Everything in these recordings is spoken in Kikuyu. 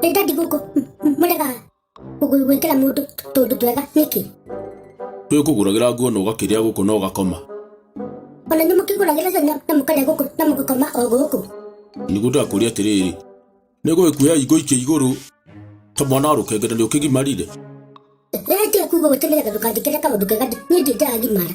Nĩ ndandi gũkũ mũrega gwĩkĩra mũndũ tũndũ twega nĩkĩ? Nĩ ũkũgũragĩra nguo na ũgakĩrĩa gũkũ na ũgakoma. Ona nĩ mũkĩgũragĩra cana na mũkarĩa gũkũ na mũgakoma o gũkũ. Nĩguo ndakũria atĩrĩrĩ, nĩ gũgĩkuoya ingũikia igũrũ ta mwana wa rũkenge na nĩ ũkĩgimarire? Rĩrĩa nje kuuga ũtĩmĩraga ndũkanjĩkĩre kaũndũ kega niĩ ndirĩ ndĩragimara.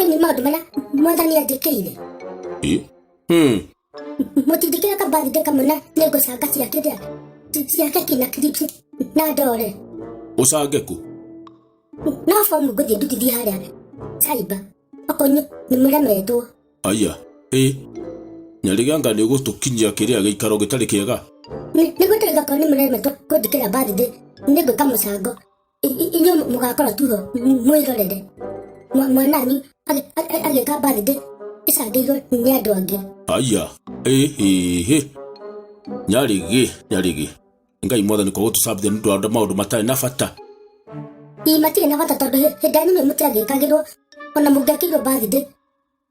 Ĩni maũndũ marĩa mwathani anjĩkĩire. Ĩ? Hmm. Mũtinjĩkĩra ka birthday kamwe na nĩ ngũcanga cia kĩrĩa cia keki na clips na ndore. Ũcange kũ? No bomu ngũthiĩ ndutithie harĩa cyber. Okonyo nĩ mũremetwo. Aya. Ĩ. Nyariganga nĩ ũgũtũkinyia kĩrĩa gĩikaro gĩtarĩ kĩega. Nĩ nĩ gũtũiga korwo nĩ mũremetwo kũnjĩkĩra birthday nĩ ngwĩka mũcango. inyuĩ mũgakora tugo mwĩrorere Mwa- mwananyu agĩ- agĩ- agĩka birthday ĩcangĩirwo nĩ andũ angĩ aya ĩhĩhĩ nyarĩgĩ nyarĩgĩ ngai mwathani kwa gũtũcambithia nĩ ũndũ wa maũndũ matarĩ na bata ii matirĩ na bata tondũ hĩ- hĩndĩ yanyu nĩ mũtiagĩkagĩrwo ona mũngĩakĩirwo birthday